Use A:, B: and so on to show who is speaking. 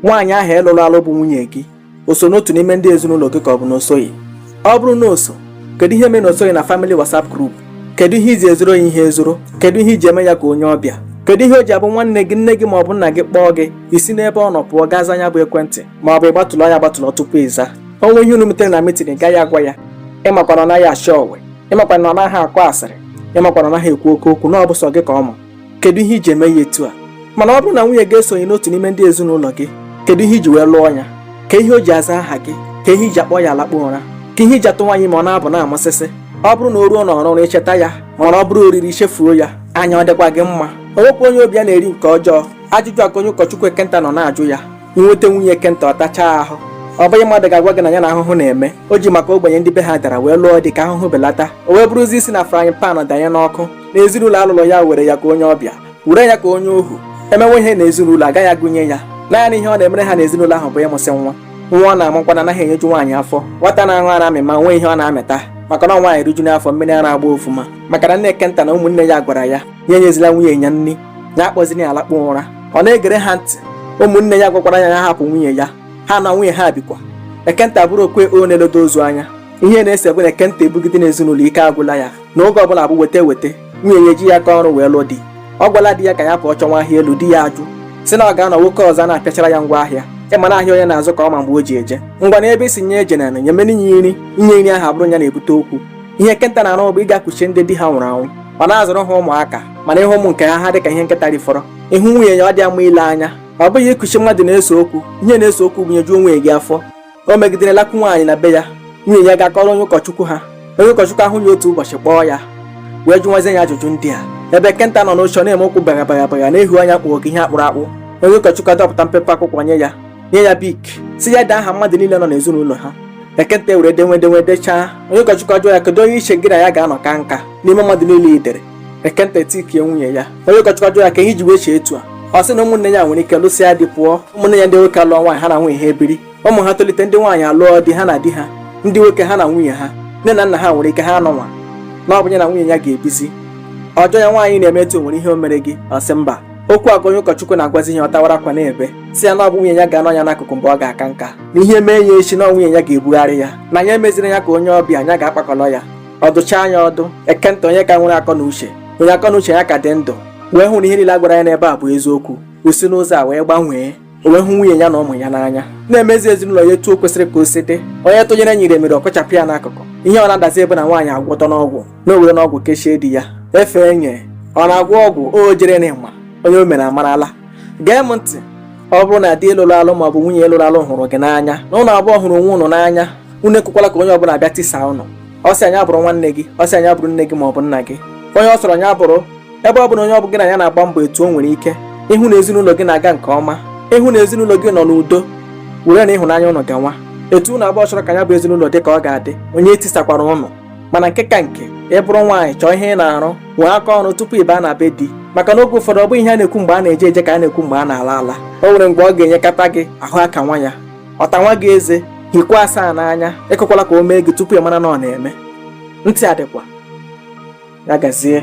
A: nwaanyị ahụ ị lụrụ alụ bụ nwunye gị o so n'otu n'ime ndị ezinụlọ gị ka ọ bụ na o soghị ọ bụrụ na o so kedu ihe mere na o soghị na family WhatsApp group kedu ihe i ji ezoro ya ihe ezoro kedu ihe i ji eme ya ka onye ọbịa kedu ihe o ji abụ nwanne gị nne gị ma ọ bụ nna gị kpọọ gị i si n'ebe ọ nọ pụọ gaa zaa nya bụ ekwentị ma ọ bụ ị gbatụlọ ya agbatụlọ tupu ị zaa o nwee ihe unu metere na meeting ị gaghị agwa ya ị makwa na ọ naghị achọ ọwe ị makwa na ọ naghị akọ asịrị ị makwa na ọ naghị ekwu oke okwu na ọ bụ sọ gị ka ọ ma kedu ihe i ji eme ya etu a mana ọ bụrụ na nwunye gị esoghị n'otu n'ime ndị ezinụlọ gị kedu ihe i ji wee lụọ ya ka ihe o ji aza aha gị ka ihe i ji akpọ ya alakpọ ụra ka ihe i ji atụwa nya ime ọ na-ebu na-amụsịsị ọ bụrụ na o ruo n'ọrụrụ i cheta ya mana ọ bụrụ oriri i chefuo ya anya ọ dịkwa gị mma o nwekwa onye obi ya na-eri nke ọjọọ ajụjụ a ka onye ụkọchukwu Ekenta nọ na-ajụ ya i nweta nwunye Ekenta ọ tachaa ahụ ọ bụghị mmadụ ga-agwa gị na ya na ahụhụ na-eme o ji maka ogbenye ndị be ha dara wee lụọ di ka ahụhụ belata o wee bụrụzi isi na frying pan danye n'ọkụ na ezinụlọ a lụlụ ya were ya ka onye ọbịa were ya ka onye ohu e mewe ihe na ezinụlọ agaghị agụnye ya naanị ihe ọ na-emere ha na ezinụlọ ahụ bụ ịmụsị nwa nwa ọ na-amụkwa na anaghị enyeju nwaanyị afọ nwata na-aṅụ ara amịma o nweghị ihe ọ na-amịta maka na nwaanyị rijuo afọ mmiri ara agba ofuma maka na nne Ekenta na ụmụnne ya gwara ya ya enyezila nwunye ya nri ya akpọzina ya alakpọ ụra ọ na-egere ha ntị ụmụnne ya gwakwara ya ya hapụ nwunye ya ha na nwunye ha bikwa Ekenta bụrụ okwe ọ na-eledo ozu anya ihe na-ese bụ na Ekenta ebugide n'ezinụlọ ike agwụla ya na oge ọbụla bụ weta weta nwunye ya ejighị aka ọrụ wee lụọ di ọ gwala di ya ka ya pụọ chọwa ahịa elu di ya ajụ sị na ọ ga-anọ nwoke ọzọ na-apịachara ya ngwa ahịa ị ma na ahịa onye na-azụ ka ọ ma mgbe o ji eje ngwanụ ebe ị sị nya ejena nyemenụ ya nri inye nri ahụ abụrụ ya na-ebute okwu ihe Ekenta na-arụ bụ ịga kuchie ndị di ha nwụrụ anwụ ọ na-azụrụ ha ụmụaka mana ị hụ ụmụ nke ha ha dị ka ihe nkịta rifọrọ ị hụ nwunye ya ọ dịghị mma ile anya ọ bụghị ikuchi mmadụ na-ese okwu ihe na-ese okwu bụ nyejuo nwunye gị afọ o megidere lakwu nwaanyị na be ya nwunye ya gaa kọọrọ onye ụkọchukwu ha onye ụkọchukwu ahụ ya otu ụbọchị kpọọ ya wee jụwazie ya ajụjụ ndị a ebe Ekenta nọ n'oche na-eme ụkwụ bagha bagha bagha na-ehu anya kpọọ ka ihe a kpụrụ akpụ onye ụkọchukwu adọpụta mpepe akwụkwọ nye ya nye ya bic sị ya dee aha mmadụ niile nọ n'ezinụlọ ha Ekenta ewere denwe denwe dechaa onye ụkọchukwu ajụọ ya kedu onye i che gị na ya ga-anọ kaa nka n'ime mmadụ niile i dere Ekenta etikie nwunye ya onye ụkọchukwu ajụọ ya ka ihe i ji wee chee etu a ọ sị na ụmụnne ya nwere ike lụsịa di pụọ ụmụnne ya ndị nwoke alụọ nwaanyị ha na nwunye ha ebiri ụmụ ha tolite ndị nwaanyị alụọ di ha na di ha ndị nwoke ha na nwunye ha nne na nna ha nwere ike ha anọnwa na ọ bụ ya na nwunye ya ga-ebizi ọ jụọ ya nwaanyị ị na-eme etu a o nwere ihe o mere gị ọ sị mba okwu a ka onye ụkọchukwu na-agwazi ya ọ tawara akwa na-ebe sị ya na ọ bụ nwunye ya ga-anọ ya n'akụkụ mgbe ọ ga-aka nka na ihe mee ya echi na nwunye ya ga-ebugharị ya na ya emeziri ya ka onye ọbịa onye ga-akpakọrọ ya ọ dụchaa nya ọdụ Ekenta onye ka nwere akọ na uche onye akọ na uche ya ka dị ndụ wee hụ na ihe niile a gwara ya n'ebe a bụ eziokwu o si n'ụzọ a wee gbanwee o wee hụ nwunye ya na ụmụ ya n'anya na-emezi ezinụlọ ya etu o kwesịrị ka o si dị onye tụnyere nyere mere ọ kọchapụ ya n'akụkụ ihe ọ na-adazi bụ na nwaanyị agwọtana ọgwụ na o werena ọgwụ kechie di ya efe enye ọ na-agwọ ọgwụ o jere n'ịma onye o mere amarala gee m ntị ọ bụrụ na di ị lụrụ alụ ma ọ bụ nwunye ị lụrụ alụ hụrụ gị n'anya na ụnụ abụọ hụrụ onwe ụnụ n'anya unu ekwekwala ka onye ọbụla bịa tisa ụnụ ọ sị nya bụrụ nwanne gị ọ sị nya bụrụ nne gị ma ọ bụ nna gị onye ọ sọrọ nya bụrụ ebe ọ bụ na onye ọ bụ gị na ya na-agba mbọ etu o nwere ike ịhụ na ezinụlọ gị na-aga nke ọma ịhụ na ezinụlọ gị nọ n'udo were na ịhụnanya ụnụ gawa etu ụnụ abụọ chọrọ ka ya bụ ezinụlọ dị ka ọ ga-adị onye etisakwara ụnụ mana nke ka nke ị bụrụ nwaanyị chọọ ihe ị na-arụ nwee aka ọrụ tupu ị baa na be di maka na oge ụfọdụ ọ bụghị ihe a na-ekwu mgbe a na-eje eje ka a na-ekwu mgbe a na-ala ala o nwere mgbe ọ ga-enyekata gị ahụ akanwa ya ọ tanwa gị eze hikwa asaa n'anya ekwekwala ka o mee gị tupu ị mara na ọ na-eme ntị adịkwa ya gazie